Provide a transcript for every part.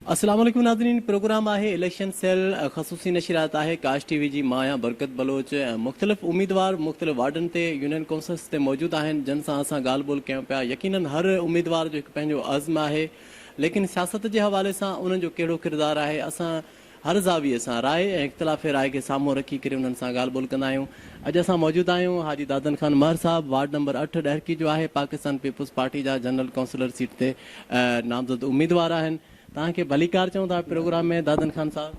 السلام عليڪم ناظرين پروگرام آهي اليڪشن سيل خصوصي نشريات آهي ڪاش ٽي وي جي مان آهيان برڪت بلوچ ۽ مختلف اميدوار مختلف وارڊن تي يونين ڪونسلس تي موجود آهن جن سان اسان ڳالهه ٻولهه ڪيون پيا يقينن هر اميدوار جو هڪ پنهنجو عزم آهي ليڪن سياست جي حوالي سان انهن جو ڪهڙو ڪردار آهي اسان هر زاويي سان راء ۽ اختلاف راء کي سامهون رکي ڪري انهن سان ڳالهه ٻولهه ڪندا آهيون اڄ اسان موجود آهيون حاجي دادن خان مهر صاحب وارڊ نمبر اٺ ڏهرڪي جو آهي پاڪستان پيپلز پارٽي جا جنرل ڪونسلر سيٽ تي نامزد اميدوار آهن توهان کي ڀليڪار چئون ٿا پروگرام ۾ دادن خان صاحب.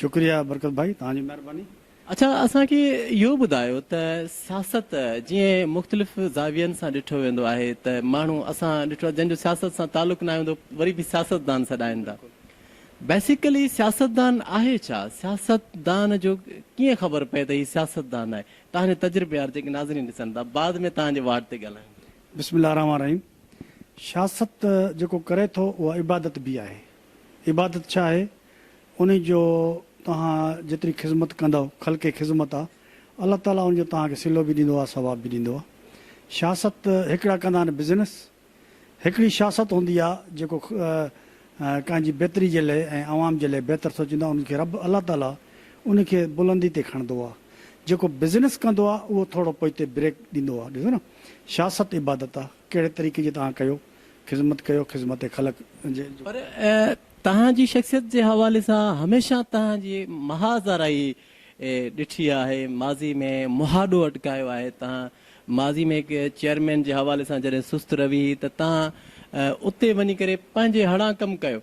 شڪريا برڪت ڀائي توهان جي مهرباني. اڇا اسان کي اهو ٻڌايو ته سياست جيئن مختلف زاوين سان ڏٺو ويندو آهي ته ماڻهو اسان ڏٺو آهي جنهن جو سياست سان تعلق ناهي هوندو وري به سياستدان سڏائين ٿا بيسيڪلي سياستدان آهي ڇا سياستدان جو ڪيئن خبر پئي ته هي سياستدان آهي توهان جو تجربيار جيڪي ناظرين ڏسن ٿا بعد ۾ توهان جي واٽ تي ڳالهايون ٿا. بسم الله الرحمٰن الرحيم سياست جيڪو ڪري ٿو اها عبادت به آهي. عبادت ڇا آهي؟ ان جو توهان جيتري خذمت ڪندؤ خلقي خذمت آ الله تعالي ان جو توهان کي صلو به ڏيندو آ ثواب به ڏيندو آ. سياست هڪڙا ڪندا آهن بزنس هڪڙي سياست هوندي آ جيڪو ڪنهن جي بهتري جي لئه ۽ عوام جي لئه بهتر سوچيندو آ ان کي رب الله تعالي ان کي بلندي تي کڻندو آ جيڪو بزنس ڪندو آ اهو ٿورو پوئتي بريڪ ڏيندو آ ڏسو نه شاھ ست عبادت آ، ڪهڙي طريقي جي تهان ڪيو، خذمت ڪيو، خذمت خلق جي. پر تهان جي شخصيت جي حوالي سان هميشه تهان جي محاذ آرائي ڏٺي آهي، ماضي ۾ مهاڏو اٽڪايو آهي، تهان ماضي ۾ هڪ چيئرمين جي حوالي سان جڏهن سست روي هئي ته تهان اتي وڃي ڪري پنهنجي هڙان ڪم ڪيو،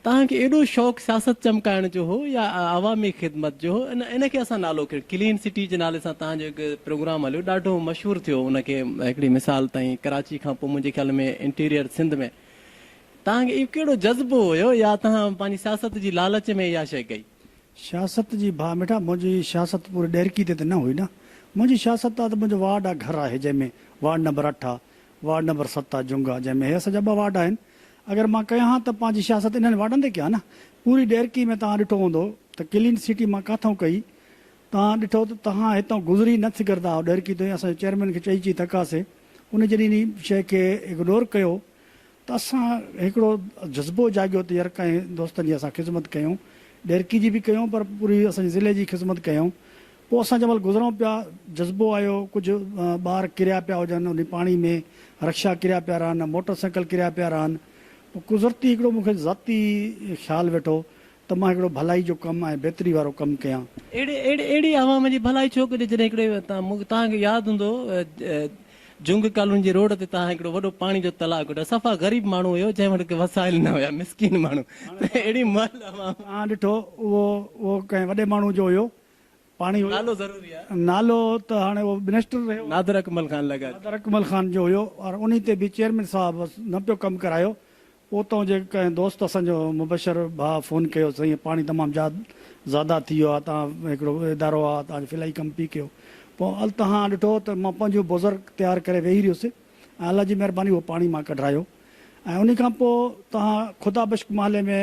توهان کي ايڏو شوق سياست چمڪائڻ جو هو يا عوامي خدمت جو هو ان ان کي اسان نالو ڪيو ڪلين سٽي جي نالي سان توهان جو هڪ پروگرام هليو ڏاڍو مشهور ٿيو ان کي هڪڙي مثال تائين ڪراچي کان پوء منهنجي خيال ۾ انٽيريئر سنڌ ۾ توهان کي اهو ڪهڙو جذبو هيو يا توهان پنهنجي سياست جي لالچ ۾ اها شيء ڪئي. سياست جي ڀاء مٺا منهنجي سياست پوري ڏهرڪي تي ته نه هئي نه منهنجي سياست آ ته منهنجو وارڊ آ گهر آهي جنهن ۾ وارڊ نمبر اٺ آ وارڊ نمبر ست آ جنگ آ جنهن ۾ هي اسان جا ٻه وارڊ آهن اگر مان ڪيان ها ته پنهنجي سياست انهن واٽن تي ڪيان نه. پوري ڏيرڪي ۾ توهان ڏٺو هوندو ته ڪلين سٽي مان ڪاٿئون ڪئي. توهان ڏٺو ته توهان هتئون گذري نه سگهردا هئو ڏيرڪي تائين اسان جي چيئرمين کي چئي چئي ٿڪاسي. ان جڏهن انهي شئي کي اگنور ڪيو ته اسان هڪڙو جذبو جاڳيو ته يار ڪئين دوستن جي اسان خذمت ڪيون ڏيرڪي جي به ڪيون پر پوري اسان جي ضلعي جي خذمت ڪيون. پوء اسان جنهن مهل گذرون پيا، جذبو آيو، ڪجهه ٻار ڪريا پيا هجن انهي پاڻي ۾، رڪشا ڪريا پيا رهن، موٽر سائيڪل ڪريا پيا رهن، پوء قذرتي هڪڙو مون کي ذاتي خيال ويٺو ته مان هڪڙو ڀلائي جو ڪم ۽ بهتري وارو ڪم ڪيان. اهڙي اهڙي عوام جي ڀلائي ڇو ڪجي جڏهن هڪڙي توهان کي ياد هوندو جهنگ ڪالوني جي روڊ تي توهان هڪڙو وڏو پاڻي جو تلاء ڪڍيو صفا غريب ماڻهو هيو جنهن وٽ وسائل نه هيا مسڪين ماڻهو اهڙي مهل عوام. توهان ڏٺو اهو اهو ڪنهن وڏي ماڻهو جو هيو پاڻي هيو. نالو ضروري آهي. نالو ته هاڻي اهو منسٽر رهيو آهي. نادر اڪمل خان لڳا. نادر اڪمل خان جو هيو پر انهي تي به چيئرمين صاحب نه پيو ڪم ڪرايو. اوتان جي ڪنهن دوست اسان جو مبشر ڀاء فون ڪيو سائين پاڻي تمام زياد زياده ٿي ويو آهي توهان هڪڙو ادارو آهي توهان جو فلاحي ڪم پي ڪيو پوء التهان ڏٺو ته مان پنهنجو بوزر تيار ڪري ويهي رهيس ۽ الله جي مهرباني اهو پاڻي مان ڪڍرايو ۽ انهي کان پوء توهان خدا بشڪ محلي ۾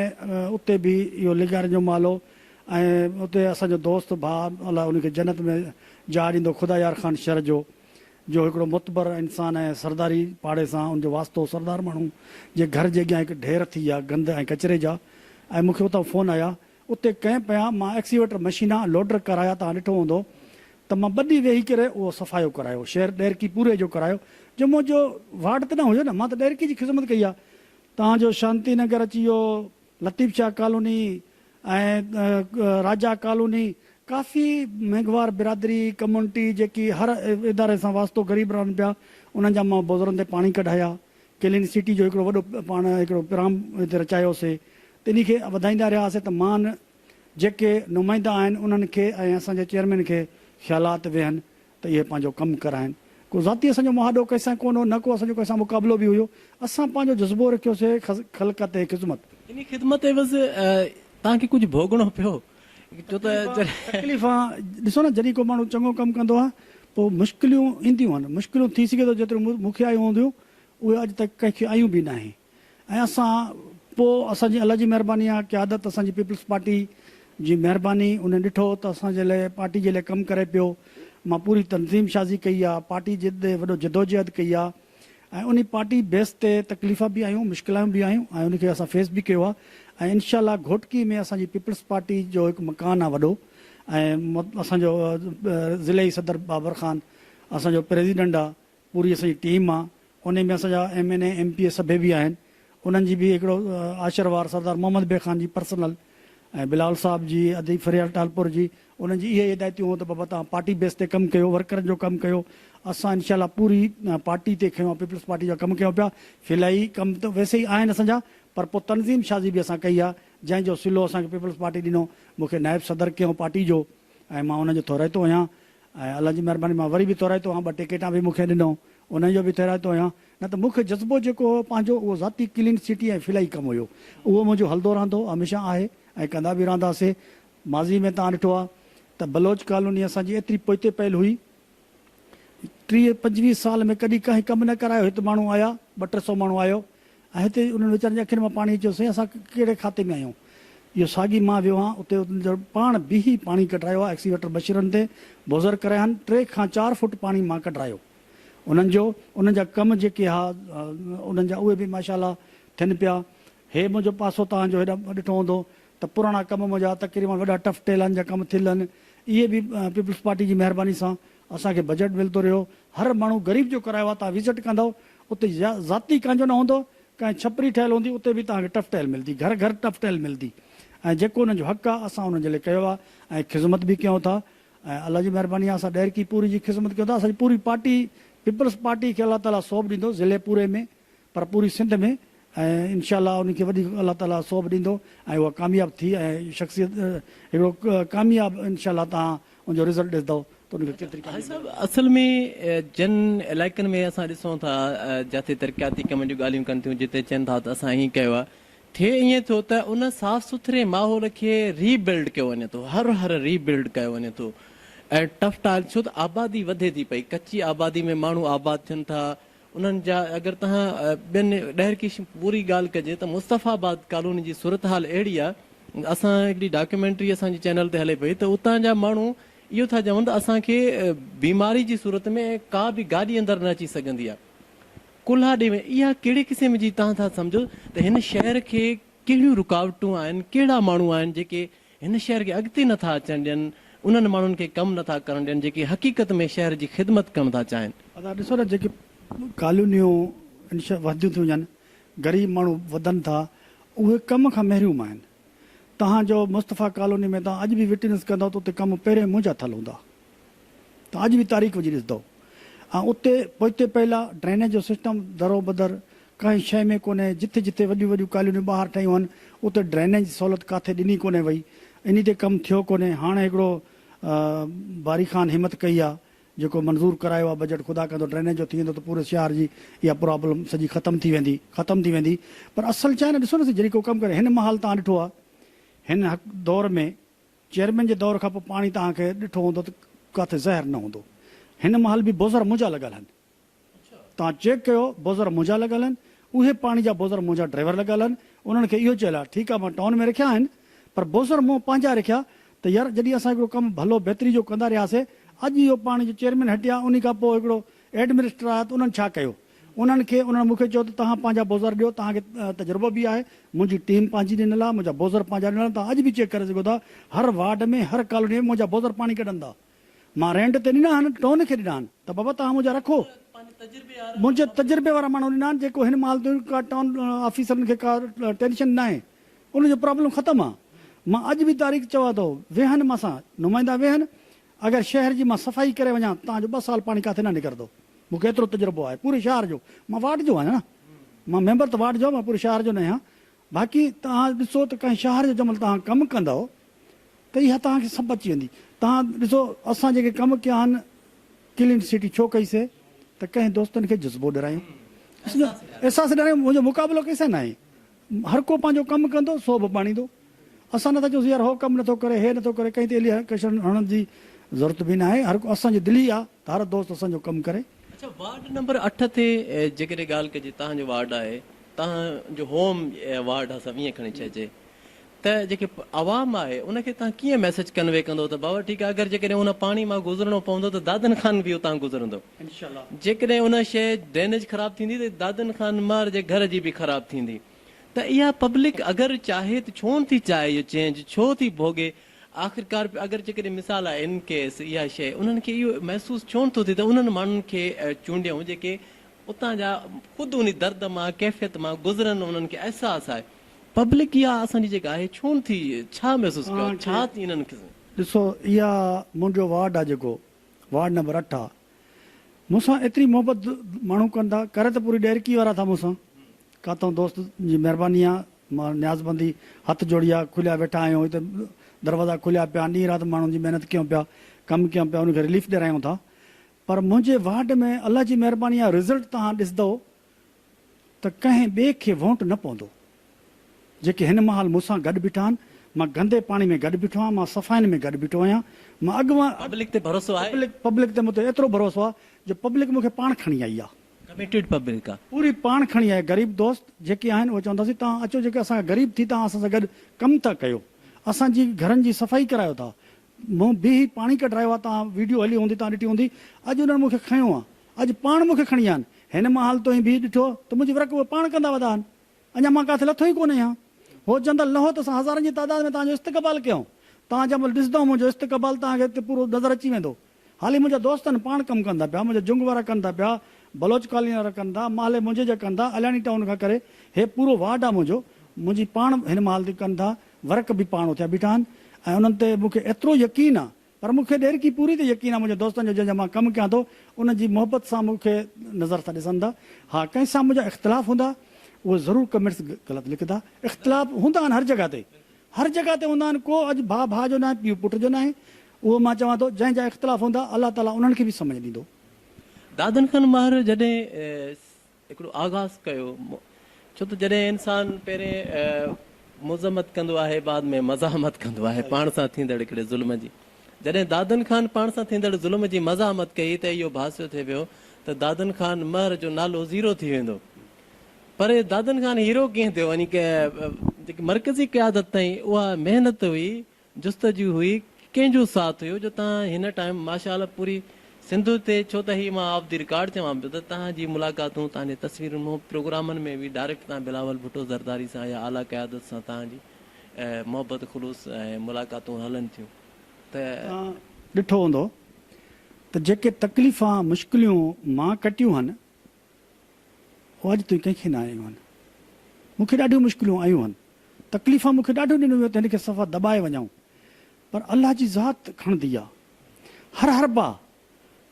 اتي به اهو لغارين جو محلو ۽ اتي اسان جو دوست ڀاء الله ان کي جنت ۾ جاء ڏيندو خدا يار خان شھر جو جو ھڪڙو معتبر انسان ۽ سرداري پاڙي سان ان جو واسطو سردار ماڻھو جي گھر جي اڳيان ھڪ ڍير ٿي ويا گند ۽ ڪچري جا ۽ مون کي اتان فون آيا اتي ڪئين پيا مان ايڪسيويٽر مشينا ۽ لوڊر ڪرايا توھان ڏٺو ھوندو ته مان ٻه ڏينھن ويھي ڪري اھو صفايو ڪرايو شھر ڏيرڪي پوري جو ڪرايو جو منھنجو وارڊ ته نه ھيو نه مان ته ڏيرڪي جي خذمت ڪئي آ توھان جو شانتي نگر اچي اھو لطيف شاهه ڪالوني ۽ راجا ڪالوني ڪافي مينگهوار برادري، ڪميونٽي، جيڪي هر اداري سان واسطو غريب رهن پيا، انهن جا مان بوزرن تي پاڻي ڪڍايا. ڪلين سٽي جو هڪڙو وڏو پاڻ هڪڙو پرام هتي رچايو سي. تنهن کي وڌائيندا رهيا سي ته مان جيڪي نمائندا آهن انهن کي ۽ اسان جي چيئرمين کي خيالات ويهن ته اهي پنهنجو ڪم ڪرائين. ڪو ذاتي اسان جو مهاڏو ڪنهن سان ڪونه هو، نه ڪو اسان جو ڪنهن سان مقابلو به هيو. اسان پنهنجو جذبو رکيوسي خلقت ۽ خذمت. انهيء خذمت عيوض توهان کي ڪجهه ڀوڳڻو پيو ڇو ته جڏهن. تڪليفون، ڏسو نه جڏهن ڪو ماڻهو چڱو ڪم ڪندو آهي پوء مشڪليون اينديون آهن، مشڪليون ٿي سگهي ٿو جيتريون مون کي آيون هونديون اهي اڄ تائين ڪنهن کي آيون به ناهن. ۽ اسان پوء اسان جي الله جي مهرباني آهي قيادت اسان جي پيپلز پارٽي جي مهرباني انهن ڏٺو ته اسان جي لاء پارٽي جي لاء ڪم ڪري پيو مان پوري تنظيم شازي ڪئي آهي پارٽي جي ڏي وڏو جدوجهد ڪئي آهي ۽ انهي پارٽي بيس تي تڪليفا به آيون مشڪلايون به آيون ۽ انهي کي اسان فيس به ڪيو آهي ۽ انشاء الله گهوٽڪي ۾ اسان جي پيپلز پارٽي جو هڪ مڪان آهي وڏو ۽ اسان جو ضلعي صدر بابر خان اسان جو پريزيڊنٽ آهي پوري اسان جي ٽيم آ انهي ۾ اسان جا M N A M P A سڀي به آهن انهن جي به هڪڙو آشر وار سردار محمد بي خان جي پرسنل ۽ بلاول صاحب جي ادي فريال ٽالپور جي انهن جي اهي ئي هدايتيون هون ته بابا توهان پارٽي بيس تي ڪم ڪيو ورڪرن جو ڪم ڪيو اسان انشاء الله پوري پارٽي تي کنيو پيپلز پارٽي جا ڪم ڪيون پيا فلائي ڪم ته ويسي ئي آهن اسان جا پر پو تنظيم شازي به اسان ڪئي آ جنهن جو صلو اسان کي پيپلز پارٽي ڏنو مون کي نائب صدر ڪيون پارٽي جو ۽ مان انهن جو ٿورائتو آهيان ۽ الله جي مهرباني مان وري به تورائتو هئان، ٻه ٽيڪيٽان به مون کي ڏنو، انهيء جو به تورائتو هئان، نه ته مک جذبو جيڪو هو پنهنجو اهو ذاتي ڪلين سٽي ۽ فلاحي ڪم هيو. اهو منهنجو هلدو رهندو، هميشه آهي ۽ ڪندا به رهندا سي. ماضي ۾ توهان ڏٺو آ ته بلوچ ڪالوني اسان جي ايتري پوئتي پيل هئي، ٽيهه پنجويهه سال ۾ ڪڏهن ڪنهن ڪم نه ڪرايو، هت ماڻهو آيا، ٻه ٽي سو ماڻهو آيو، ۽ هتي انهن ويچارن جي اکين مان پاڻي اچيو سائين اسان ڪهڙي کاتي ۾ آهيون اهو ساڳي مان ويو هان اتي انهن جا پاڻ بيهي پاڻي ڪڍرايو ها ايڪسيويٽر بشيرن تي بوزر ڪرايا هان ٽي کان چار فوٽ پاڻي مان ڪڍرايو انهن جو انهن جا ڪم جيڪي ها انهن جا اهي به ماشاءالله ٿين پيا هي منهنجو پاسو توهان جو هيڏا ڏٺو هوندو ته پراڻا ڪم منهنجا تقريبن وڏا ٽف ٽيلان جا ڪم ٿيل آهن اهي به پيپلز پارٽي جي مهرباني سان اسان کي بجيٽ ملتو رهيو هر ماڻهو غريب جو ڪرايو آهي تان وزٽ ڪندو اتي ذاتي ڪانجو نه هوندو ڪانهن ڇپري ٺهيل هوندي اتي به توهان کي ٽف ٽهيل ملدي گهر گهر ٽف ٽهيل ملدي ۽ جيڪو انهن جو حق آهي اسان انهن جي لاء ڪيو آهي ۽ خذمت به ڪيون ٿا ۽ الله جي مهرباني آهي اسان ڏهرڪي پوري جي خذمت ڪيون ٿا اسان جي پوري پارٽي پيپلز پارٽي کي الله تعالي ثواب ڏيندو ضلعي پوري ۾ پر پوري سنڌ ۾ ۽ انشاء الله ان کي وڏي الله تعالي سوڀ ڏيندو ۽ اها ڪامياب ٿي ۽ شخصيت هڪڙو ڪامياب انشاء الله توهان ان جو رزلٽ ڏسدؤ ته ان کي ڪيتري ڪاميابي ملندي. اصل ۾ جن علائقن ۾ اسان ڏسون ٿا جاتي ترقياتي ڪمن جون ڳالهيون ڪن ٿيون جتي چين ٿا ته اسان ائين ڪيو آهي ٿئي ائين ٿو ته ان صاف سٿري ماحول کي ري بلڊ ڪيو وڃي ٿو هر هر ري بلڊ ڪيو وڃي ٿو ۽ ٽف ٽائل ڇو ته آبادي وڌي ٿي پئي ڪچي آبادي ۾ ماڻهو آباد ٿين ٿا انهن جا اگر تنهن ٻين ڏهرڪي پوري ڳالهه ڪجي ته مصطفيٰ آباد ڪالوني جي صورتحال اهڙي آ اسان هڪڙي ڊاڪيومينٽري اسان جي چينل تي هلي پئي ته اتان جا ماڻهو اهو ٿا چون ته اسان کي بيماري جي صورت ۾ ڪا به گاڏي اندر نه اچي سگهندي آ ڪلها ڏي ۾ اها ڪهڙي قسم جي تهان ٿا سمجهو ته هن شهر کي ڪهڙيون رڪاوٽون آهن ڪهڙا ماڻهو آهن جيڪي هن شهر کي اڳتي نه ٿا اچڻ ڏين، انهن ماڻهن کي ڪم نه ٿا ڪرڻ ڏين جيڪي حقيقت ۾ شهر جي خدمت ڪرڻ ٿا چاهين. ادا ڏسو نه جيڪي ڪالونيون وڌنديون ٿيون وڃن، غريب ماڻهو وڌن ٿا، اهي ڪم کان محروم آهن. توهان جو مصطفيٰ ڪالوني ۾ توهان اڄ به وٽنس ڪندؤ ته اتي ڪم پهرين منهنجا ٿيل هوندا. توهان اڄ به تاريخ وجهي ڏسندؤ ۽ اتي پوئتي پيلا ڊرينيج جو سسٽم درو بدر ڪنهن شيء ۾ ڪونهي، جٿي جٿي وڏيون وڏيون ڪالونيون ٻاهر ٺهيون هن اتي ڊرينيج جي سهولت ڪاٿي ڏني ڪونهي وئي، انهي تي ڪم ٿيو ڪونهي، هاڻ هڪڙو باري خان همت ڪئي آ جيڪو منظور ڪرايو آ بجيٽ خدا ڪندو ڊرينيج جو ٿي ويندو ته پوري شهار جي اها پرابلم سڄي ختم ٿي ويندي ختم ٿي ويندي پر اصل ڇا آهي نه ڏسو نه سائين جڏهن ڪو ڪم ڪري هن مهل توهان ڏٺو آ هن دور ۾ چيئرمين جي دور کان پوء پاڻي توهان کي ڏٺو هوندو ته ڪاٿي زهر نه هوندو هن مهل به بوزر منهنجا لڳل آهن توهان چيڪ ڪيو بوزر منهنجا لڳل آهن اهي پاڻي جا بوزر منهنجا ڊرائيور لڳل آهن انهن کي اهو چيل آهي ٺيڪ آهي مان ٽائون ۾ رکيا آهن پر بوزر مون پنهنجا رکيا ته يار جڏهن اسان هڪڙو ڪم ڀلو بهتري جو ڪندا رهياسي اڄ اهو پاڻي جو چيئرمين هٽيا انهي کان پوء هڪڙو ايڊمنسٽر آيا ته انهن ڇا ڪيو انهن کي انهن مون کي چيو ته توهان پنهنجا بوزر ڏيو توهان کي تجربو به آهي منهنجي ٽيم پنهنجي ڏنل آهي منهنجا بوزر پنهنجا ڏنل آهن توهان اڄ به چيڪ ڪري سگهو ٿا هر وارڊ ۾ هر ڪالوني ۾ منهنجا بوزر پاڻي ڪڍن ٿا مان رينٽ تي ڏنا آهن، ٽون کي ڏنا آهن ته بابا توهان منهنجا رکو. منهنجي تجربي وارا ماڻهو ڏنا آهن جيڪو هن مال تي ڪا ٽون آفيسرن کي ڪا ٽينشن ناهي. ان جو پرابلم ختم آ. مان اڄ به تاريخ چوان ٿو ويهن مان سان نمائندا ويهن اگر شهر جي مان صفائي ڪري وڃان توهان جو ٻه سال پاڻي ڪاٿي نه نڪرندو. مون کي ايترو تجربو آهي پوري شهر جو. مان وارڊ جو آهيان مان ميمبر ته وارڊ جو آهيان مان پوري شهر جو نه آهيان. باقي توهان ڏسو ته ڪنهن شاهر جو جنهن مهل توهان ڪم ڪندؤ ته اها توهان کي سڀ اچي ويندي. توهان ڏسو اسان جيڪي ڪم ڪيا آهن ڪلين سٽي ڇو ڪئي سي ته ڪنهن دوستن کي جذبو ڏرايون، احساس ڏرايون، منهنجو مقابلو ڪنهن سان ناهي، هر ڪو پنهنجو ڪم ڪندو سو به ڀاڻيندو. اسان نٿا چئون سون يار هو ڪم نٿو ڪري، هي نٿو ڪري، ڪنهن تي الي ڪشڻ هڻڻ جي ضرورت به ناهي، هر ڪو اسان جي دل ئي آ ته هر دوست اسان جو ڪم ڪري. اڇا وارڊ نمبر اٺ تي جيڪڏهن ڳالهه ڪجي توهان جو وارڊ آهي. تهان جو هوم يا وارڊ آ سڀ ائين کڻي چئجي ته جيڪي عوام آهي ان کي تهان ڪيئن ميسيج ڪنوي ڪندو ته بابا ٺيڪ آ اگر جيڪڏهن ان پاڻي مان گذرڻو پوندو ته دادن خان به اتان گذرندو جيڪڏهن ان شي ڊرينيج خراب ٿيندي ته دادن خان مار جي گهر جي به خراب ٿيندي ته اها پبلڪ اگر چاهي ته ڇو نٿي چاهي اهو چينج ڇو ٿي ڀوڳي آخرڪار اگر جيڪڏهن مثال آهي ان ڪيس اها شي انهن کي اهو محسوس ڇو نٿو ٿئي ته انهن ماڻهن کي چونڊيائون جيڪي اتان جا خود انهي درد مان ڪيفيت مان گذرن انهن کي احساس آهي پبلڪ اها اسان جي جيڪا آهي ڇو نه ٿي ڇا محسوس ڪيو آهي ڇا ٿي انهن کي. ڏسو اها منهنجو وارڊ آ جيڪو وارڊ نمبر اٺ آ مون سان ايتري محبت ماڻهو ڪن ٿا ڪري ته پوري ڏهرڪي وارا ٿا مون سان ڪاتئون دوست جي مهرباني آ مان نيازبندي هٿ جوڙي آ کليا ويٺا آهيون هتي دروازا کليا پيا آهن ڏينهن رات ماڻهن جي محنت ڪيون پيا ڪم ڪيون پيا انهن کي رليف ڏيرايون ٿا پر منهنجي وارڊ ۾ الله جي مهرباني آ رزلٽ توهان ڏسدئو ته ڪنهن ٻئي کي وونٽ نه پوندو جيڪي هن مهال مون سان گڏ بيٺا آهن مان گندي پاڻي ۾ گڏ بيٺو آهيان مان صفائين ۾ گڏ بيٺو آهيان مان اڳواڻ پبلڪ تي ڀروسو آهي. پبلڪ پبلڪ تي مون تي ايترو ڀروسو آ جو پبلڪ مون کي پاڻ کڻي آئي آ. ڪميٽيڊ پبلڪ آ. پوري پاڻ کڻي آئي غريب دوست جيڪي آهن اهي چونداسين توهان اچو جيڪي اسان کان غريب ٿي توهان اسان سان گڏ ڪم ٿا ڪيو اسان جي گهرن جي صفائي ڪرايو ٿا مون بيهي پاڻي ڪڍرايو آ توهان ويڊيو هلي هوندي توهان ڏٺي هوندي اڄ انهن مون کي کنيو آ اڄ پاڻ مون کي کڻي آن هن مهال توهين بيهي ڏٺو ته منهنجي ورڪ اهي پاڻ ڪندا ودا آن اڃا مان ڪاٿي لٿو ئي ڪونه اهيان هو جندل لهو ته اسان هزارن جي تعداد ۾ توهان جو استقبال ڪيائون توهان جنهن مهل ڏسدؤ منهنجو استقبال توهان کي اتي پورو نظر اچي ويندو هالي منهنجا دوست آن پاڻ ڪم ڪن ٿا پيا منهنجا جنگ وارا ڪن ٿا پيا بلوچ ڪالوني وارا ڪن ٿا محلي منهنجي جا ڪن ٿا علياڻي ٽائون کان ڪري هي پورو وارڊ آ منهنجو منهنجي پاڻ هن مهال تي ڪن ٿا ورق به پاڻ اٿيا بيٺا آهن ۽ انهن تي مون کي ايترو يقين آ پر مون کي ڏيرڪي پوري تي يقين آ منهنجي دوستن جو جنهن جا مان ڪم ڪيان ٿو انهن جي محبت سان مون کي نظر سان ڏسن ٿا ها ڪنهن سان منهنجا اختلاف هوندا اهي ضرور ڪمينٽس غلط لکندا اختلاف هوندا آهن هر جڳهه تي هر جڳهه تي هوندا آهن ڪو اڄ ڀاء ڀاء جو ناهي پيء پٽ جو ناهي اهو مان چوان ٿو جنهن جا اختلاف هوندا الله تعالي انهن کي به سمجهه ڏيندو. دادن کان مهر جڏهن هڪڙو آغاز ڪيو ڇو ته جڏهن انسان پهرين مذمت ڪندو آهي بعد ۾ مزاحمت ڪندو آهي پاڻ سان ٿيندڙ هڪڙي ظلم جي جڏهن دادن خان پاڻ سان ٿيندڙ ظلم جي مزاحمت ڪئي ته اهو ڀاسيو ٿي ويو ته دادن خان مهر جو نالو زيرو ٿي ويندو پر دادن خان هيرو ڪيئن ٿيو يعني مرڪزي قيادت تائين اها محنت هئي جستجو هئي ڪنهن جو ساٿ هيو جو تهان هن ٽائيم ماشاء الله پوري سنڌ تي ڇو ته هي مان آف دي رڪارڊ چوان پيو ته تهان جي ملاقاتون تهان جي تصويرون مون پروگرامن ۾ به ڊائريڪٽ تهان بلاول ڀٽو زرداري سان يا اعليٰ قيادت سان تهان جي محبت خلوص ۽ ملاقاتون هلن ٿيون ته توهان ڏٺو هوندو ته جيڪي تڪليفان مشڪليون مان ڪٽيون هن. هو اڄ تائين ڪنهن کي نه آيون آهن. مون کي ڏاڍيون مشڪلون آيون آهن. تڪليفان مون کي ڏاڍو ڏنو ويو ته هن کي صفا دٻائي وڃائون. پر الله جي ذات کڻندي آ. هر هر باهه،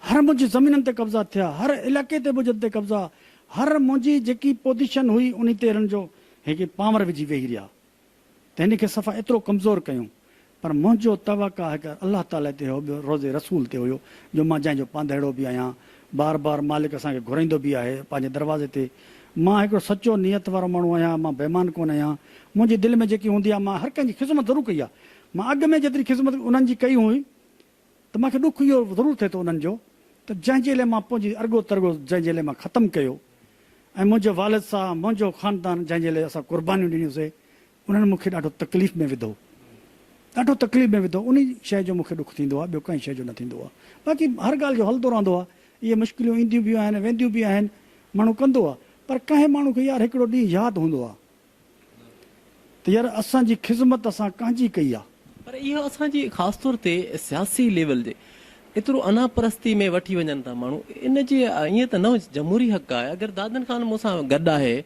هر منهنجي زمينن تي قبضا ٿيا، هر علائقي تي ٻجن تي قبضا، هر منهنجي جيڪي پوزيشن هئي انهي تي هنن جو هيڪي پانور وجهي ويهي رهيا. ته هن کي صفا ايترو ڪمزور ڪيون پر منهنجو توقع هڪ الله تعالي تي هو ٻيو روضي رسول تي هيو جو مان جنهن جو پانڌئڙو به آهيان بار بار مالڪ اسان کي گهرائيندو به آهي پنهنجي دروازي تي مان هڪڙو سچو نيت وارو ماڻهو آهيان مان بيمان ڪونه آهيان منهنجي دل ۾ جيڪي هوندي آهي مان هر ڪنهن جي خذمت ضرور ڪئي آهي مان اڳ ۾ جيتري خذمت انهن جي ڪئي هئي ته مان کي ڏک اهو ضرور ٿئي ٿو انهن جو ته جنهن جي لئه مان پنهنجي ارڳو ترڳو جنهن جي لئه مان ختم ڪيو ۽ منهنجي والد سا منهنجو خاندان جنهن جي لئه اسان قربانيون ڏنيون سي انهن مون کي ڏاڍو تڪليف ۾ وڌو ڏاڍو تڪليف ۾ وڌو انهي شئي جو مون کي ڏک ٿيندو آهي ٻيو ڪنهن شئي جو نه ٿيندو آهي باقي هر ڳالهه جو هلندو رهندو آهي اهي مشڪليون اينديون به آهن وينديون به آهن ماڻهو ڪندو آهي پر ڪنهن ماڻهو کي يار هڪڙو ڏينهن ياد هوندو آهي ته يار اسان جي خذمت اسان ڪانجي ڪئي آ. پر اهو اسان جي خاص طور تي سياسي ليول جي ايترو انا پرستي ۾ وٺي وڃن ٿا ماڻهو ان جي ائين ته نه هجي جمهوري حق آهي اگر دادن خان مون سان گڏ آهي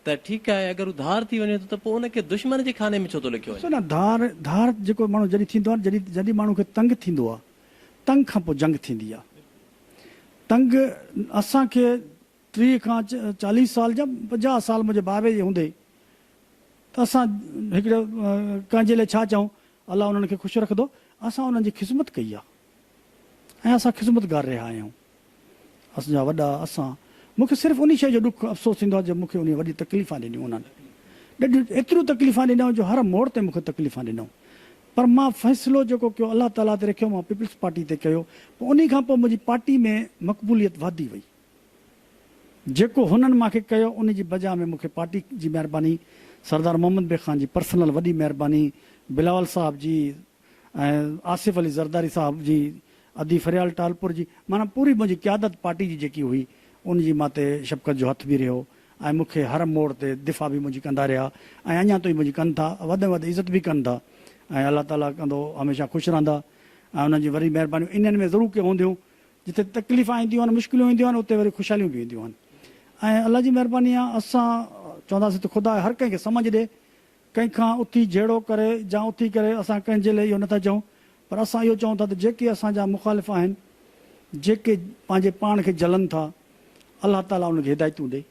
ته ٺيڪ آهي اگر هو ڌار ٿي وڃي ٿو ته پوء ان کي دشمن جي خاني ۾ ڇو ٿو لکيو ڏسو وڃي. نه ڌار ڌار جيڪو ماڻهو جڏهن ٿيندو آهي جڏهن جڏهن ماڻهو کي تنگ ٿيندو آهي تنگ کان پوء جنگ ٿيندي آهي تنگ اسان کي ٽيهه کان چاليهه سال يا پنجاهه سال منهنجي بابي جي هوندي ته اسان هڪڙي ڪنهن جي لاء ڇا چئون الله انهن کي خوش رکندو اسان انهن جي خذمت ڪئي آ ۽ اسان خذمتگار رهيا آهيون اسان جا وڏا اسان مون کي صرف انهي شيء جو ڏک افسوس ٿيندو آ جو مون کي انهي وڏي تڪليفان ڏنيون انهن ڏڍيون ايتريون تڪليفان ڏنائون جو هر موڙ تي مون کي تڪليفان ڏنائون پر مان فيصلو جيڪو ڪيو الله تعالي تي رکيو مان پيپلز پارٽي تي ڪيو پوء انهي کان پوء منهنجي پارٽي ۾ مقبوليت وڌي وئي. جيڪو هنن مان کي ڪيو ان جي بجا ۾ مون کي پارٽي جي مهرباني، سردار محمد بي خان جي پرسنل وڏي مهرباني، بلاول صاحب جي ۽ آصف علي زرداري صاحب جي ادي فريال ٽالپور جي معنيٰ پوري منهنجي قيادت پارٽي جي جيڪي هئي ان جي مان تي شفقت جو هٿ به رهيو ۽ مون کي هر موڙ تي دفاع به منهنجي ڪندا رهيا ۽ اڃان توئين منهنجي ڪن ٿا وڌ ۾ وڌ عزت به ڪن ٿا ۽ الله تعالي ڪندو هميشه خوش رهندا ۽ انهن جي وري مهربانيون انهن ۾ ضرور ڪي هونديون جتي تڪليفون اينديون آهن، مشڪلون اينديون آهن، اتي وري خوشحاليون به اينديون آهن ۽ الله جي مهرباني آهي اسان چونداسين ته خدا هر ڪنهن کي سمجهه ڏي، ڪنهن کان اٿي جهيڙو ڪري يا اٿي ڪري اسان ڪنهن جي لاء اهو نٿا چئون پر اسان اهو چئون ٿا ته جيڪي اسان جا مخالف آهن، جيڪي پنهنجي پاڻ کي جهلن ٿا، الله تعاليٰ انهن کي هدايتون ڏي،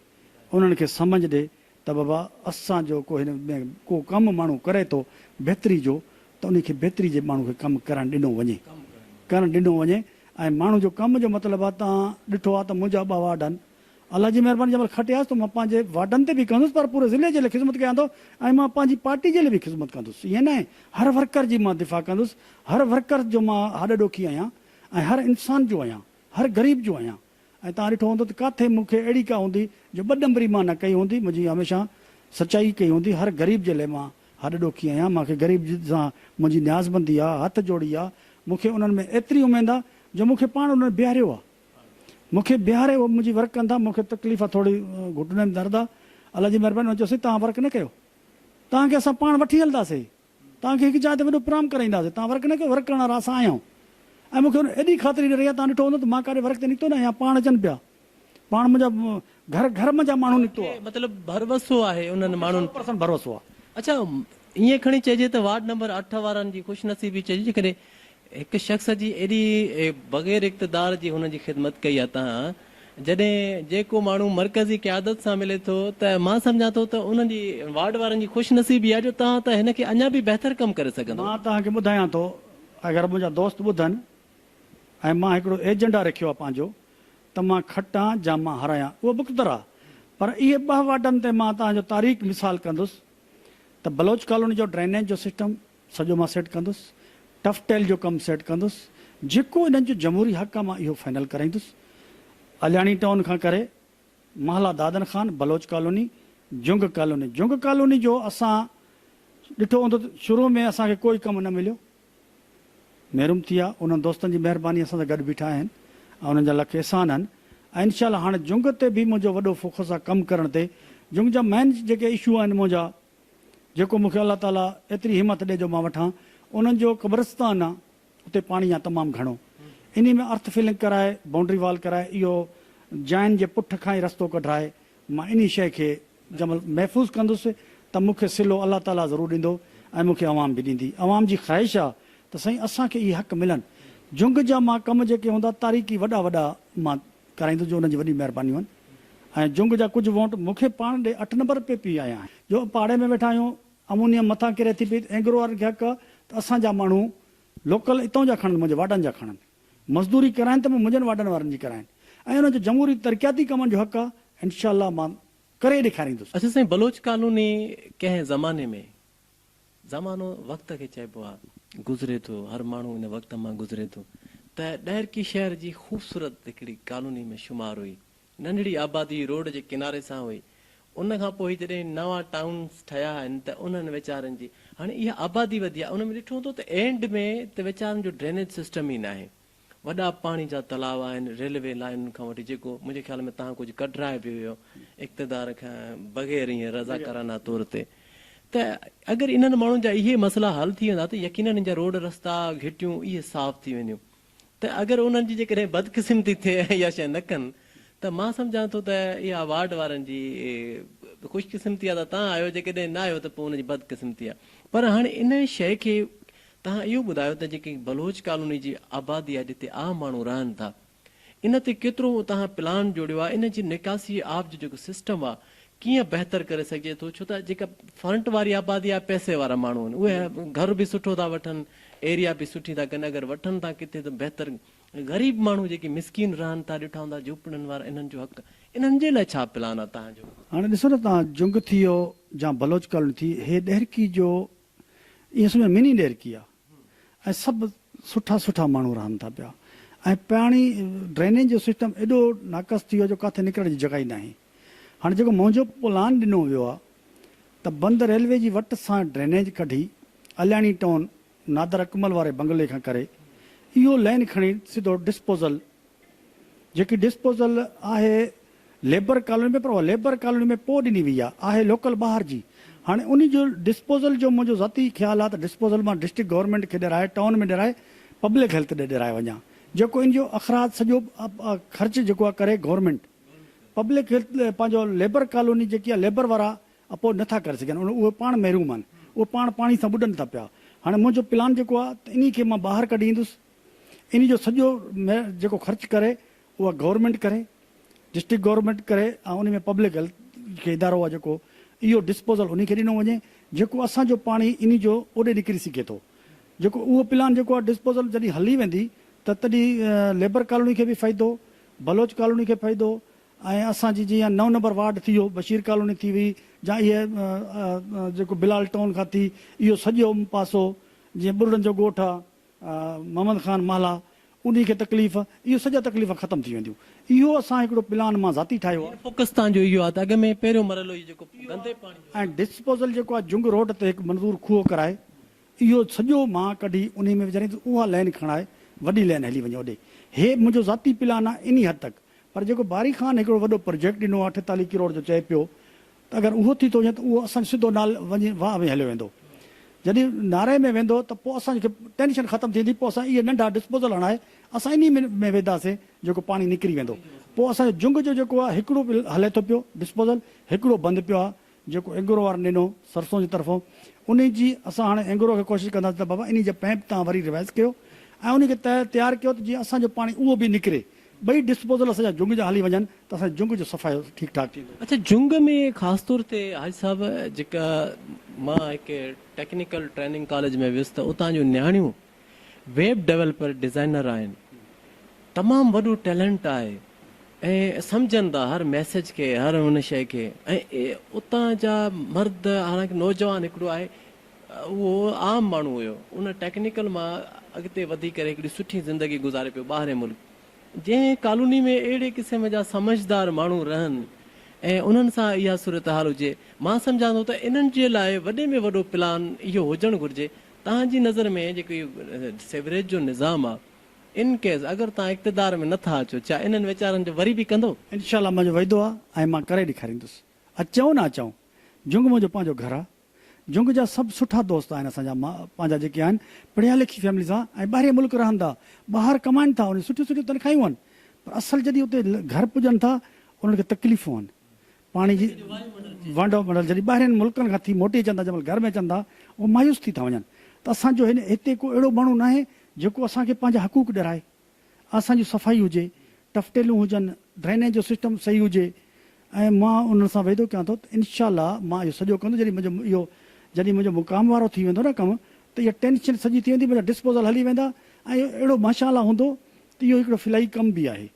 انهن کي سمجهه ڏي ۽ ته بابا اسان جو ڪو هن ۾ ڪو ڪم ماڻهو ڪري ٿو بهتري جو ته انهي کي بهتري جي ماڻهو کي ڪم ڪرڻ ڏنو وڃي ڪرڻ ڏنو وڃي ۽ ماڻهو جو ڪم جو مطلب آ تان ڏٺو آ ته منهنجا ٻه وارڊ آهن الله جي مهرباني جنهن مهل کٽياس ته مان پنهنجي وارڊن تي به ڪندس پر پوري ضلعي جي لاء خدمت ڪيان ٿو ۽ مان پنهنجي پارٽي جي لاء به خدمت ڪندس ائين ناهي هر ورڪر جي مان دفاع ڪندس هر ورڪر جو مان هڏ ڏوکي آهيان ۽ هر انسان جو آهيان هر غريب جو آهيان. ۽ توهان ڏٺو هوندو ته ڪاٿي مون کي اهڙي ڪا هوندي جو ٻه ڏنبري مان نه ڪئي هوندي، منهنجي هميشه سچائي ئي ڪئي هوندي، هر غريب جي لئه مان هڏ ڏوکي آهيان، مان کي غريب سان منهنجي نيازبندي آ، هٿ جوڙي آ، مون کي انهن ۾ ايتري اميد آ جو مون کي پاڻ انهن بيهاريو آ، مون کي بيهاري اهي منهنجي ورڪ ڪندا، مون کي تڪليف آ ٿورڙي گهٽني ۾ درد آ، الله جي مهرباني هوندي چيوسين توهان ورڪ نه ڪيو، توهان کي اسان پاڻ وٺي هلنداسين. توهان کي هڪ جاء تي وڏو پرام ڪرائينداسين. توهان ورق نه ڪيو، ورق ڪرڻ وارا اسان آهيون. ۽ مون کي ان ايڏي خاطري ڏري آهي، توهان ڏٺو هوندو ته مان ڪاڏي ورق تي نڪتو ناهيان، پاڻ اچن پيا. پاڻ منهنجا گهر گهر منجهان ماڻهو نڪتو آهي. مطلب ڀروسو آهي انهن مون کي ماڻهن سؤ تي. پرسنٽ ڀروسو آهي. اڇا ائين کڻي چئجي ته وارڊ نمبر اٺ وارن جي خوش نصيبي چئجي جيڪڏهن هڪ شخص جي ايڏي بغير اقتدار جي هن جي خدمت ڪئي اتان جڏهن جيڪو ماڻهو مرڪزي قيادت سان ملي ٿو ته مان سمجهان ٿو ته انهن جي وارڊ وارن جي خوش نصيبي آهي جو توهان ته هن کي اڃان به بهتر ڪم ڪري سگهندو. مان توهان کي ٻڌايان ٿو اگر منهنجا دوست ٻڌن ۽ مان هڪڙو ايجنڊا رکيو آهي پنهنجو ته مان کٽان جا مان هارايان اهو مقتدر آهي پر اهي ٻه وارڊن تي مان توهان جو تاريخ مثال ڪندس ته بلوچ ڪالوني جو ڊرينيج جو سسٽم سڄو مان سيٽ ڪندس، ٽف ٽيل جو ڪم سيٽ ڪندس، جيڪو انهن جو جمهوري حق آ مان اهو فائنل ڪرائيندس، علياڻي ٽائون کان ڪري محله Dadan Khan, Baloch colony, Jang colony, Jang colony جو اسان ڏٺو هوندو ته شروع ۾ اسان کي ڪوئي ڪم نه مليو، محروم ٿي ويا، انهن دوستن جي مهرباني اسان سان گڏ بيٺا آهن ۽ انهن جا لک احسان آهن ۽ انشاء الله هاڻ جنگ تي به منهنجو وڏو فوڪس آ ڪم ڪرڻ تي، جنگ جا مين جيڪي اشو آهن منهنجا جيڪو مون کي الله تعاليٰ ايتري همت ڏي جو مان وٺان، انهن جو قبرستان آ، اتي پاڻي آ تمام گهڻو، انهي ۾ ارٿ فلنگ ڪرائي، بائونڊري وال ڪرائي، اهو جائن جي پٺ کان ئي رستو ڪڍرائي، مان انهي شيء کي جمل محفوظ ڪندس ته مون کي صلو الله تعاليٰ ضرور ڏيندو ۽ مون کي عوام به ڏيندي، عوام جي خواهش آ ته سائين اسان کي اهي حق ملن، جهنگ جا مان ڪم جيڪي هوندا تاريخي وڏا وڏا مان ڪرائيندس جو انهن جي وڏي مهربانيون آهن. ۽ جنگ جا ڪجهه وونٽ مون کي پاڻ ڏي اٺ نمبر پي پي آيا آهن جو پاڙي ۾ ويٺا آهيون امونيم مٿان ڪري ٿي پئي ته اينگرو وارن کي حق ته اسان جا ماڻهو لوڪل اتئون جا کڻن منهنجي واڏن جا کڻن مزدوري ڪرائين ته به منهنجن واڏن وارن جي ڪرائين ۽ انهن جو جمهوري ترقياتي ڪمن جو حق آهي انشاء الله مان ڪري ڏيکاريندس. اڇا سائين بلوچ ڪالوني ڪنهن زماني ۾ زمانو وقت کي چئبو آ گذري ٿو هر ماڻهو ان وقت مان گذري ٿو ته ڏهرڪي شهر جي خوبصورت هڪڙي ڪالوني ۾ شمار هئي ننڍڙي آبادي روڊ جي ڪناري سان هئي ان کان پوء جڏهن نوان ٽائونس ٺهيا آهن ته انهن ويچارن جي هاڻي اها آبادي وڌي آ ان ۾ ڏٺو هوندو ته اينڊ ۾ ته ويچارن جو ڊرينيج سسٽم ئي ناهي وڏا پاڻي جا تلاء آهن، ريلوي لائينن کان وٺي جيڪو منهنجي خيال ۾ تهان ڪجهه ڪڍرائي به ويو اقتدار کان بغير ائين رضاڪارانه طور تي ته اگر انهن ماڻهن جا اهي مسئلا حل ٿي ويندا ته يقينن ان جا روڊ رستا گهٽيون اهي صاف ٿي وينديون ته اگر انهن جي جيڪڏهن بدقسمتي ٿئي ۽ اها شيء نه ڪن ته مان سمجهان ٿو ته اها وارڊ وارن جي خوشقسمتي آهي ته تهان آهيو جيڪڏهن نه آهيو ته پوء ان جي بدقسمتي آهي پر هاڻي ان شيء کي توهان اهو ٻڌايو ته جيڪي بلوچ ڪالوني جي آبادي آهي جتي عام ماڻهو رهن ٿا ان تي ڪيترو توهان پلان جوڙيو آهي ان جي نڪاسي آب جو جيڪو سسٽم آهي ڪيئن بهتر ڪري سگهجي ٿو ڇو ته جيڪا فرنٽ واري آبادي آهي پئسي وارا ماڻهو آهن اهي گهر به سٺو ٿا وٺن ايريا به سٺي ٿا ڪن اگر وٺن ٿا ڪٿي ته بهتر غريب ماڻهو جيڪي مسڪين رهن ٿا ڏٺا هوندا جهوپڙين وارا انهن جو حق انهن جي لاء ڇا پلان آهي توهان جو. هاڻي ڏسو نه توهان جنگ ٿي يو جا بلوچ ڪالوني ٿي هي ڏهرڪي جو اها سمجهه مني ڏيرڪي آهي ۽ سڀ سٺا سٺا ماڻهو رهن ٿا پيا ۽ پاڻي ڊرينيج جو سسٽم ايڏو ناقص ٿي ويو آهي جو ڪاٿي نڪرڻ جي جڳهه ئي ناهي. هاڻي جيڪو منهنجو پلان ڏنو ويو آهي ته بند ريلوي جي وٽ سان ڊرينيج ڪڍي علياڻي ٽائون نادر اڪمل واري بنگلي کان ڪري اهو لين کڻي سڌو ڊسپوزل جيڪي ڊسپوزل آهي ليبر ڪالوني ۾ پر اها ليبر ڪالوني ۾ پوء ڏني وئي آهي، آهي لوڪل ٻاهر جي. هاڻي انهي جو ڊسپوزل جو منهنجو ذاتي خيال آهي ته ڊسپوزل مان ڊسٽرڪٽ گورنمينٽ کي ڏيرائي ٽائون ۾ ڏيرائي پبلڪ هيلٿ ڏي ڏيرائي وڃان جيڪو ان جو اخراج سڄو خرچ جيڪو آهي ڪري گورنمينٽ پبلڪ هيلٿ پنهنجو ليبر ڪالوني جيڪي آهي ليبر وارا اپورڊ نه ٿا ڪري سگهن ان اهي پاڻ محروم آهن اهي پاڻ پاڻي سان ٻڏن ٿا پيا هاڻي منهنجو پلان جيڪو آهي ته انهي کي مان ٻاهر ڪڍي ايندس ان جو سڄو جيڪو خرچ ڪري اها گورنمينٽ ڪري، ڊسٽرڪٽ گورنمينٽ ڪري ۽ ان ۾ پبلڪ هيلٿ کي ادارو آهي جيڪو اهو ڊسپوزل ان کي ڏنو وڃي جيڪو اسان جو پاڻي ان جو اوڏي نڪري سگهي ٿو جيڪو اهو پلان جيڪو آهي ڊسپوزل جڏهن هلي ويندي ته تڏهن ليبر ڪالوني کي به فائدو، بلوچ ڪالوني کي فائدو ۽ اسان جي جيئن نو نمبر وارڊ ٿي ويو، بشير ڪالوني ٿي وئي جا اهي جيڪو بلال ٽائون کان ٿي اهو سڄو پاسو جيئن ٻرڙن جو ڳوٺ آهي. محمد خان مهلا، انهي کي تڪليف، اهي سڄا تڪليفا ختم ٿي وينديون. اهو اسان هڪڙو پلان مان ذاتي ٺاهيو آ. پڪستان جو اهو آ ته اڳ ۾ پهريون مرحلو اهي جيڪو گندي پاڻي جو ۽ ڊسپوزل جيڪو آ جنگ روڊ تي هڪ منظور کوهه ڪرائي اهو سڄو مان ڪڍي انهي ۾ وجهارين ته اها لين کڻائي وڏي لين هلي وڃي اوڏي. هي منهنجو ذاتي پلان آ انهي حد تڪ پر جيڪو باري خان هڪڙو وڏو پروجيڪٽ ڏنو آهي اٺيتاليهه ڪروڙ جو چئي پيو ته اگر اهو ٿي ٿو وڃي ته اهو اسان جو سڌو نال وڃي واهه ۾ هليو ويندو جڏهن ناري ۾ ويندو ته پوء اسان کي ٽينشن ختم ٿيندي پوء اسان اهي ننڍا ڊسپوزل هڻائي اسان انهي ۾ وينداسين جيڪو پاڻي نڪري ويندو پوء اسان جو جنگ جو جيڪو آهي هڪڙو به هلي ٿو پيو ڊسپوزل هڪڙو بند پيو آهي جيڪو اينگرو وارن ڏنو سرسون جي طرفون انهي جي اسان هاڻي اينگرو کي ڪوشش ڪنداسين ته بابا انهي جا پئمپ توهان وري ريوائيز ڪيو ۽ انهي کي تهه تيار ڪيو ته جيئن اسان جو پاڻي اهو به نڪري ٻئي ڊسپوزل اسان جا جهنگ جا هلي وڃن ته اسان جي جهنگ جو صفائي ٺيڪ ٺاڪ ٿيندو. اچا جهنگ ۾ خاص طور تي حاجي صاحب جيڪا مان هڪ ٽيڪنيڪل ٽريننگ ڪاليج ۾ ويس ته اتان جون نياڻيون ويب ڊيولپر ڊزائنر آهن تمام وڏو ٽيلنٽ آهي ۽ سمجهن ٿا هر ميسج کي هر ان شئي کي ۽ اتان جا مرد حالانڪ نوجوان هڪڙو آهي اهو عام ماڻهو هيو ان ٽيڪنيڪل مان اڳتي وڌي ڪري هڪڙي سٺي زندگي گذاري پيو ٻاهرين ملڪ جنهن ڪالوني ۾ اهڙي قسم جا سمجهدار ماڻهو رهن ۽ انهن سان اها صورتحال هجي مان سمجهان ٿو ته انهن جي لاء وڏي ۾ وڏو پلان اهو هجڻ گهرجي توهان جي نظر ۾ جيڪو اهو سيوريج جو نظام آ ان ڪيس اگر توهان اقتدار ۾ نه ٿا اچو ڇا انهن ويچارن جو وري به ڪندو؟ انشاء الله منهنجو وعدو آ ۽ مان ڪري ڏيکاريندس اچون نه اچون جنگ منهنجو پنهنجو گهر آ جنگ جا سڀ سٺا دوست آهن اسان جا پنهنجا جيڪي آهن پڙهيا لکي فيمليز آ ۽ ٻاهرين ملڪ رهن ٿا ٻاهر ڪمائن ٿا انهن جون سٺيون سٺيون تنخاهيون آهن پر اصل جڏهن اتي گهر پڄن ٿا انهن کي تڪليفون آهن پاڻي جي ونڊ آف منڊل جڏهن ٻاهرين ملڪن کان ٿي موٽي اچن ٿا جنهن مهل گهر ۾ اچن ٿا اهو مايوس ٿي ٿا وڃن ته اسان جو هتي ڪو اهڙو ماڻهو ناهي جيڪو اسان کي پنهنجا حقوق ڏيرائي اسان جي صفائي هجي ٽفٽيلون هجن ڊرينيج جو سسٽم صحيح هجي ۽ مان انهن سان وعدو ڪيان ٿو ته انشاء الله مان اهو سڄو ڪندس جڏهن منهنجو اهو جڏهن منهنجو مقام وارو ٿي ويندو نه ڪم ته اها ٽينشن سڄي ٿي ويندي منهنجا ڊسپوزل هلي ويندا ۽ اهو اهڙو ماشاء الله هوندو ته اهو هڪڙو فلاحي ڪم به آهي.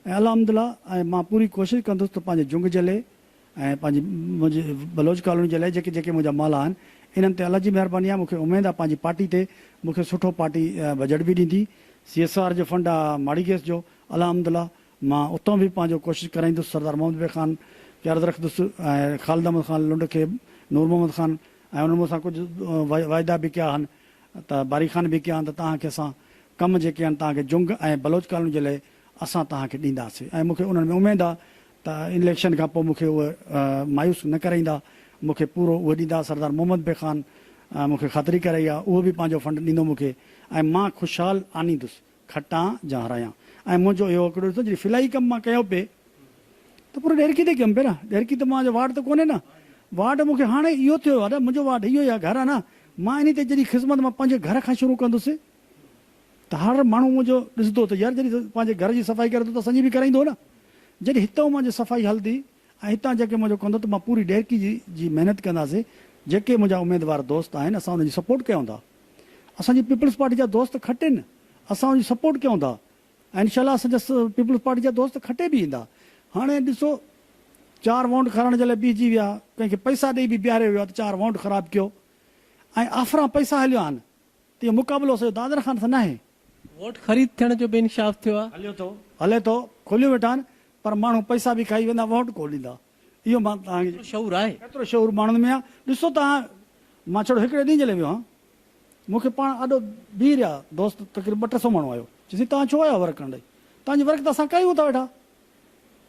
۽ الحمد الله ۽ مان پوري ڪوشش ڪندس ته پنهنجي جهنگ جي لئي ۽ پنهنجي منهنجي بلوچ ڪالوني جي لئي جيڪي جيڪي منهنجا مال آهن انهن تي الله جي مهرباني آهي مون کي اميد آهي پنهنجي پارٽي تي مون کي سٺو پارٽي بجيٽ به ڏيندي سي ايس آر جو فنڊ آهي ماڙي گيس جو الحمد الله مان اتان به پنهنجو ڪوشش ڪرائيندس سردار محمد بي خان کي عرض رکندس ۽ خالد احمد خان لنڊ کي نور محمد خان ۽ انهن مون سان ڪجهه واعدا به ڪيا آهن ته باري خان به ڪيان ته توهان کي اسان ڪم جيڪي آهن توهان کي جنگ ۽ بلوچ ڪالوني جي لئي اسان توهان کي ڏينداسين ۽ مون کي انهن ۾ اميد آهي ته اليڪشن کان پوء مون کي اهي مايوس نه ڪرائيندا مون کي پورو اهي ڏيندا سردار محمد بي خان مون کي خاطري ڪرائي آهي اهو به پنهنجو فنڊ ڏيندو مون کي ۽ مان خوشحال آنيندس کٽان جا هرايان ۽ منهنجو اهو اڪڙو رشتو جڏهن فلاحي ڪم مان ڪيو پئي ته پورو ڏيرڪي تي ڪيم پئي نه ڏيرڪي ته مان جو واٽ ته ڪونهي نه واٽ مون کي هاڻي اهو ٿيو ادا منهنجو واٽ اهو ئي آهي گهر آهي نه مان انهي تي جڏهن خذمت مان پنهنجي گهر کان شروع ڪندس ته هر ماڻهو منهنجو ڏسندو ته يار جڏهن پنهنجي گهر جي صفائي ڪري ٿو ته اسان جي به ڪرائيندو نه جڏهن هتئون مان جي صفائي هلندي ۽ هتان جيڪي منهنجو ڪندو ته مان پوري ڏيرڪي جي جي محنت ڪنداسي جيڪي منهنجا اميدوار دوست آهن اسان ان جي سپورٽ ڪيون ٿا اسان جي پيپلز پارٽي جا دوست کٽين اسان ان جي سپورٽ ڪيون ٿا ۽ انشاء الله اسان جا پيپلز پارٽي جا دوست کٽي به ايندا هاڻي ڏسو چار وونٽ کارائڻ جي لاء بيهجي ويا ڪنهن کي پئسا ڏئي به بيهاريو ويو آهي ته چار وونٽ خراب ڪيو ۽ آفران پئسا هليو آهن اهو مقابلو سڄو دادر خان سان ناهي. ووٽ خريد ٿيڻ جو به انڪشاف ٿيو آهي. هليو ٿو هلي ٿو کوليون ويٺا آهن پر ماڻهو پئسا به کائي ويندا ووٽ ڪو ڏيندا اهو مان توهان کي. ڪيترو شعور آهي. ڪيترو شعور ماڻهن ۾ آهي ڏسو توهان مان ڇڙو هڪڙي ڏينهن جي لاء ويو هان مون کي پاڻ آڏو بيهي رهيا دوست تقريبن ٻه ٽي سئو ماڻهو آيو چي سائين توهان ڇو آيا ورق ڪرڻ ڏي توهان جي ورق ته اسان ڪيون ٿا ويٺا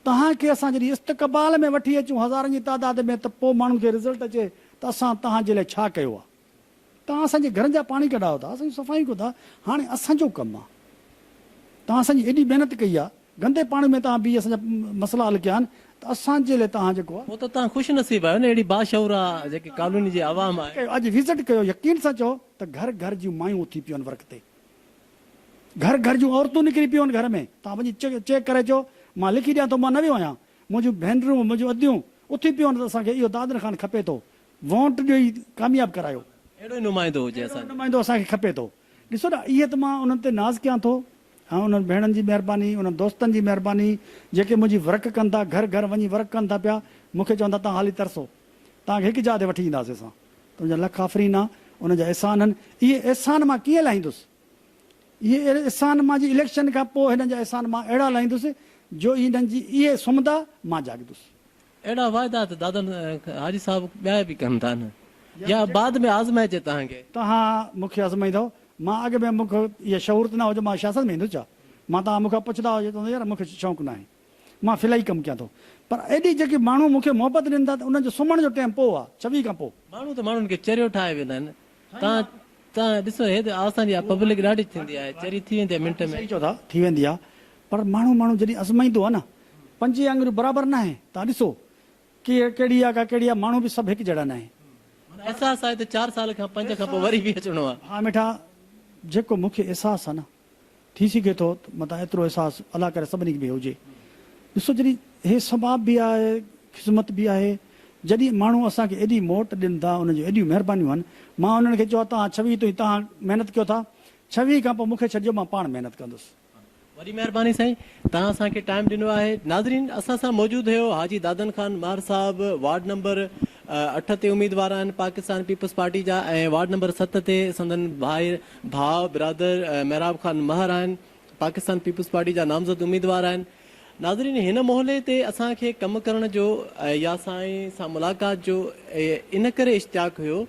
توهان کي اسان جڏهن استقبال ۾ وٺي اچون هزارن جي تعداد ۾ ته پوء ماڻهن کي رزلٽ اچي ته اسان توهان جي لاء ڇا ڪيو آهي. توهان اسان جي گهرن جا پاڻي ڪڍايو ٿا، اسان جون صفايون ڪيو ٿا، هاڻي اسان جو ڪم آ، توهان اسان جي ايڏي محنت ڪئي آ، گندي پاڻي ۾ توهان بيهي اسان جا مسئلا حل ڪيا آهن ته اسان جي لاء توهان جيڪو آ. پوء ته توهان خوش نصيب آهيو نه اهڙي باشعور آ جيڪي ڪالوني جي عوام آهي. اڄ وزٽ ڪيو يقين سان چئو ته گهر گهر جون مايون اٿي پيون آهن ورق تي، گهر گهر جون عورتون نڪري پيون آهن گهر ۾ توهان وڃي چيڪ ڪري اچو، مان لکي ڏيان ٿو مان نه ويو آهيان، منهنجون ڀينرون منهنجون اديون اٿي پيون آهن ته اسان کي اهو دادن خان کپي ٿو، ووٽ ڏئي ڪامياب ڪرايو. اهڙو ئي نمائندو هجي اسان جو. اهڙو ئي نمائندو اسان کي کپي ٿو. ڏسو نه اهي ته مان انهن تي ناز ڪيان ٿو. ها انهن ڀيڻن جي مهرباني، انهن دوستن جي مهرباني، جيڪي منهنجي ورڪ ڪن ٿا، گهر گهر وڃي ورڪ ڪن ٿا پيا، مون کي چون ٿا توهان هلي ترسو. توهان کي هڪ جاء تي وٺي اينداسين اسان. تنهنجا لک آفرين آ. انهن جا احسان هن. اهي احسان مان ڪيئن لاهيندس. اهي اهڙي احسان مان جي اليڪشن کان پوء هنن جا احسان مان اهڙا لاهيندس جو انهن جي اهي سمهندا مان جاڳندس. اهڙا واعدا ته دادن حاجي صاحب ٻيا به ڪن ٿا نه يا بعد ۾ آزمائجي توهان کي. توهان مون کي آزمائيندؤ؟ مان اڳ ۾ مون کي اهي شعور ته نه هو جو مان سياست ۾ ايندس ڇا؟ مان توهان مون کان پڇندا هجو چوندس يار مون کي شوق ناهي مان فلاحي ڪم ڪيان ٿو پر ايڏي جيڪي ماڻهو مون کي محبت ڏين ٿا ته انهن جو سمهڻ جو ٽيم پوء آهي ڇويهه کان پوء. ماڻهو ته ماڻهن کي چريو ٺاهي ويندا آهن تان تان ڏسو هي ته آسان جي آ پبلڪ ڏاڍي ٿيندي آهي چري ٿي ويندي آ منٽ ۾. صحيح چئو ٿا ٿي ويندي آ پر ماڻهو ماڻهو جڏهن ازمائيندو آ نه پنجين آڱريون برابر ناهي تان ڏسو ڪي ڪهڙي آ ڪا ڪهڙي آ ماڻهو به سڀ هڪ جهڙا ناهي. معنيٰ احساس آهي ته چار سال کان پنج کان پوء وري به اچڻو آ. ها مٺا جيڪو مونکي احساس آ نه ٿي سگهي ٿو ته متان ايترو احساس الله ڪري سڀني کي به هجي. ڏسو جڏهن هي ثواب به آهي خذمت به آهي جڏهن ماڻهو اسان کي ايڏي موٽ ڏين ٿا انهن جون ايڏيون مهربانيون آهن مان انهن کي چيو آهي توهان ڇويهه تائين توهان محنت ڪيو ٿا ڇويهه کان پوء مون کي ڇڏجو مان پاڻ محنت ڪندس. وڏي مهرباني سائين توهان اسان کي ٽائيم ڏنو آهي. ناظرين اسان سان موجود هيو حاجي دادن خان مار صاحب وارڊ نمبر اٺ تي اميدوار آهن پاڪستان پيپلز پارٽي جا ۽ وارڊ نمبر ست تي سندن ڀائر ڀاء برادر محراب خان مهر آهن پاڪستان پيپلز پارٽي جا نامزد اميدوار آهن ناظرين هن مهلي تي اسان کي ڪم ڪرڻ جو يا سائين سان ملاقات جو ان ڪري اشتياق هيو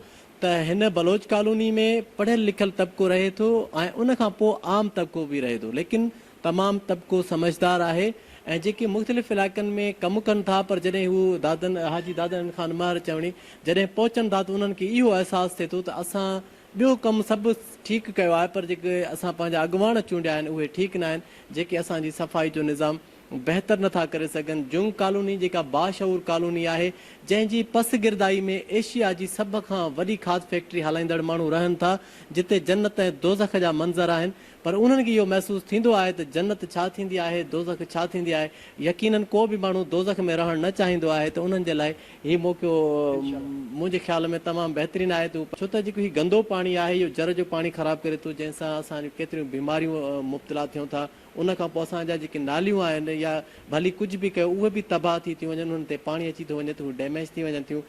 ته هن بلوچ ڪالوني ۾ پڙهيل لکيل طبقو رهي ٿو ۽ ان کان پوء عام طبقو به رهي ٿو ليڪن تمام طبقو سمجهدار آهي ۽ جيڪي مختلف علائقن ۾ ڪم ڪن ٿا پر جڏهن هو دادن حاجي دادن خان مهر چوڻي جڏهن پهچن ٿا ته انهن کي اهو احساس ٿئي ٿو ته اسان ٻيو ڪم سڀ ٺيڪ ڪيو آهي پر جيڪي اسان پنهنجا اڳواڻ چونڊيا آهن اهي ٺيڪ ناهن جيڪي اسان جي صفائي جو نظام بهتر نٿا ڪري سگهن جنگ ڪالوني جيڪا باشعور ڪالوني آهي جنهن جي پس گردائي ۾ ايشيا جي سڀ کان وڏي کاڌ فيڪٽري هلائيندڙ ماڻهو رهن ٿا جتي جنت ۽ دوزخ جا منظر آهن پر انهن کي اهو محسوس ٿيندو آهي ته جنت ڇا ٿيندي آهي، دوزخ ڇا ٿيندي آهي. يقينن ڪو به ماڻهو دوزخ ۾ رهڻ نه چاهيندو آهي ته انهن جي لاء هي موقعو منهنجي خيال ۾ تمام بهترين آهي ته هو پنهنجي ڇوته جيڪو هي گندو پاڻي آهي اهو جر جو پاڻي خراب ڪري ٿو جنهن سان اسان جون ڪيتريون بيماريون مبتلا ٿيون ٿا ان کان پوء اسان جا جيڪي ناليون آهن يا ڀلي ڪجهه به ڪيو اهي به تباهه ٿي ٿيون وڃن انهن تي پاڻي اچي ٿو وڃي ته هو ڊيميج ٿي وڃن ٿيون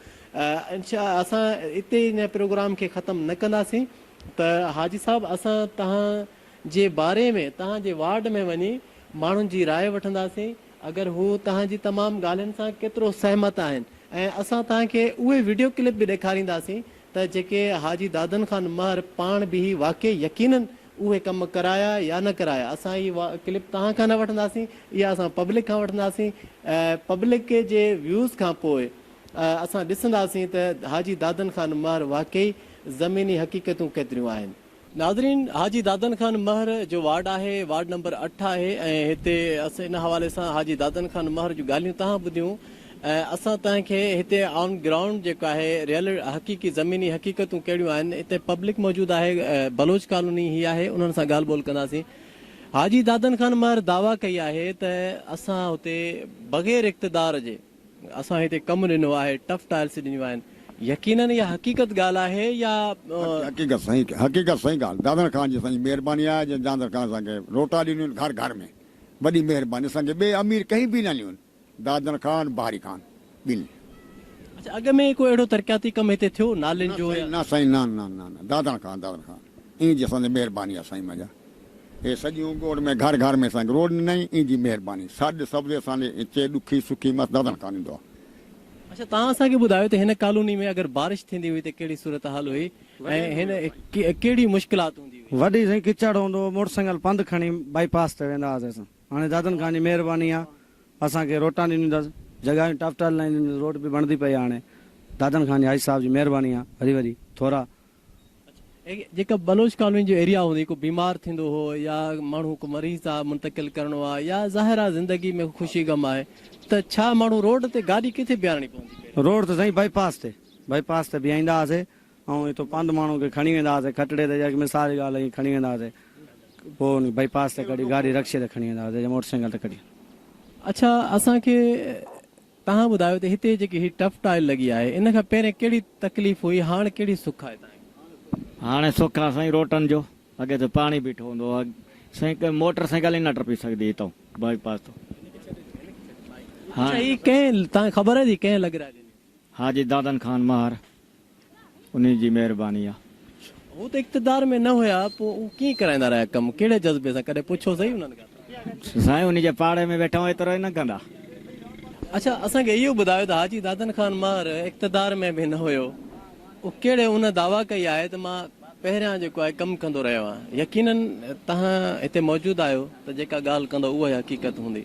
انشاء اسان اتي هن پروگرام کي ختم نه ڪنداسين ته حاجي صاحب اسان توهان جي باري ۾ توهان جي وارڊ ۾ وڃي ماڻهن جي راء وٺنداسين اگر هو توهان جي تمام ڳالهين سان ڪيترو سهمت آهن ۽ اسان توهان کي اهي وڊيو ڪلپ به ڏيکارينداسين ته جيڪي حاجي دادن خان مهر پاڻ بيهي واقعي يقينن اهي ڪم ڪرايا يا نه ڪرايا اسان اهي ڪلپ توهان کان نه وٺنداسين اها اسان پبلڪ کان وٺنداسين ۽ پبلڪ جي ويوز کان پوء اسان ڏسنداسين ته حاجي دادن خان مهر واقعي زميني حقيقتون ڪيتريون آهن. ناظرين حاجي دادن خان مهر جو وارڊ آهي وارڊ نمبر اٺ آهي ۽ هتي اسين ان حوالي سان حاجي دادن خان مهر جون ڳالهيون تهان ٻڌيون ۽ اسان تهان کي هتي آن گرائونڊ جيڪو آهي ريئل حقيقي زميني حقيقتون ڪهڙيون آهن هتي پبلڪ موجود آهي بلوچ ڪالوني هي آهي انهن سان ڳالهه ٻولهه ڪنداسين حاجي دادن خان مهر دعويٰ ڪئي آهي ته اسان هتي بغير اقتدار جي اسان هتي ڪم ڏنو آهي ٽف ٽائلس ڏنيون آهن يقينن اها حقيقت ڳالهه آهي يا. حقيقت سائين حقيقت سائين ڳالهه دادڻ خان جي سائين مهرباني آهي جنهن جاندر خان اسان کي روٽا ڏنيون گهر گهر ۾ وڏي مهرباني اسان کي ٻئي امير ڪهين به نه ڏنيون دادڻ خان بهاري خان ٻنهي. اڇا اڳ ۾ ڪو اهڙو ترقياتي ڪم هتي ٿيو نالين جو يا. نه سائين نه نه نه نه دادڻ خان دادڻ خان ايئن جي اسان تي مهرباني آهي سائين مجا اي سڄيون ڳوڙ ۾ گهر گهر ۾ سنگ روڊ نئين اين جي مهرباني سڏ سبزي اسان ڏي اچي ڏکي سکي مس ددڻ ڪان ڏيندو آ. اڇا توهان اسان کي ٻڌايو ته هن ڪالوني ۾ اگر بارش ٿيندي هئي ته ڪهڙي صورتحال هئي ۽ هن ڪهڙي مشڪلات هوندي هئي. وڏي سائين ڪچڙ هوندو هو موٽر سائيڪل پنڌ کڻي بائي پاس تي ويندا هئاسي اسان هاڻي دادن خان جي مهرباني آ اسان کي روٽا ڏنيون اٿس جڳهايون ٽف ٽال لاهيون اٿس روڊ به بڻدي پئي آ هاڻي دادن خان جي حاجي صاحب جي مهرباني آ وري وري ٿورا جيڪا بلوچ ڪالوني جو ايريا هوندي ڪو بيمار ٿيندو هو يا ماڻهو ڪو مريض تان منتقل ڪرڻو آهي يا ظاهر آهي زندگي ۾ خوشي غم آهي ته ڇا ماڻهو روڊ تي گاڏي ڪٿي بيهارڻي پوندي پئي. روڊ ته سائين بائي پاس تي بائي پاس تي بيهائيندا هئاسي ۽ اتو پنڌ ماڻهو کي کڻي ويندا هئاسي کٽڙي تي جيڪي مثال جي ڳالهه هئي کڻي ويندا هئاسي پوء ان بائي پاس تي ڪڍي گاڏي رڪشي تي کڻي ويندا هئاسي يا موٽر سائيڪل تي ڪڍي. اڇا اسان کي تهان ٻڌايو ته هتي جيڪي هي ٽف ٽائل لڳي آهي ان کان پهرين ڪهڙي تڪليف هئي هاڻ ڪهڙي سک آهي تهان کي. هاڻي سک آ سائين روٽن جو اڳي ته پاڻي بيٺو هوندو هو سائين ڪي موٽر سائيڪل ئي نه ٽپي سگهندي هتئون بائي پاس تون هاڻي. اچا هي ڪنهن تهان کي خبر آهي ته هي ڪنهن لڳرائي ڏني هئي. حاجي دادن خان مهر انهي جي مهرباني آ. هو ته اقتدار ۾ نه هيا پو اهو ڪيئن ڪرائيندا رهيا ڪم ڪهڙي جذبي سان ڪڏهن پڇو سهي انهن کان ته. سائين انهي جي پاڙي ۾ ويٺا هون ايترو ئي نه ڪندا. اڇا اسان کي اهو ٻڌايو ته حاجي دادن خان مهر اقتدار ۾ به نه هيو اهو ڪهڙي انهن دعويٰ ڪئي آهي ته مان پهريان جيڪو آهي ڪم ڪندو رهيو آهيان يقينن توهان هتي موجود آهيو ته جيڪا ڳالهه ڪندو اهو ئي حقيقت هوندي.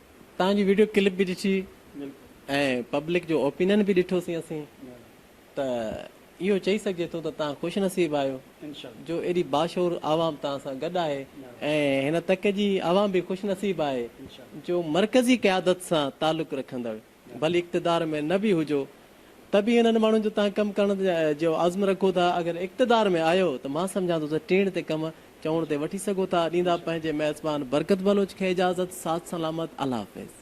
توهان جي ويڊيو ڪلپ به ڏٺي ۽ پبلڪ جو اوپينن به ڏٺوسين اسين ته اهو چئي سگهجي ٿو ته توهان خوش نصيب آهيو جو ايڏي باشعور عوام توهان سان گڏ آهي ۽ هن تڪ جي عوام به خوش نصيب آهي جو مرڪزي قيادت سان تعلق رکندڙ ڀلي اقتدار ۾ نه به هجو ته به انهن ماڻهن جو تان ڪم ڪرڻ جو عزم رکو ٿا اگر اقتدار ۾ آيو ته مان سمجهان ٿو ته ٽيڻ تي ڪم چوڻ تي وٺي سگهو ٿا ڏيندا پنهنجي ميزبان برڪت بلوچ کي اجازت ساٿ سلامت الله حافظ.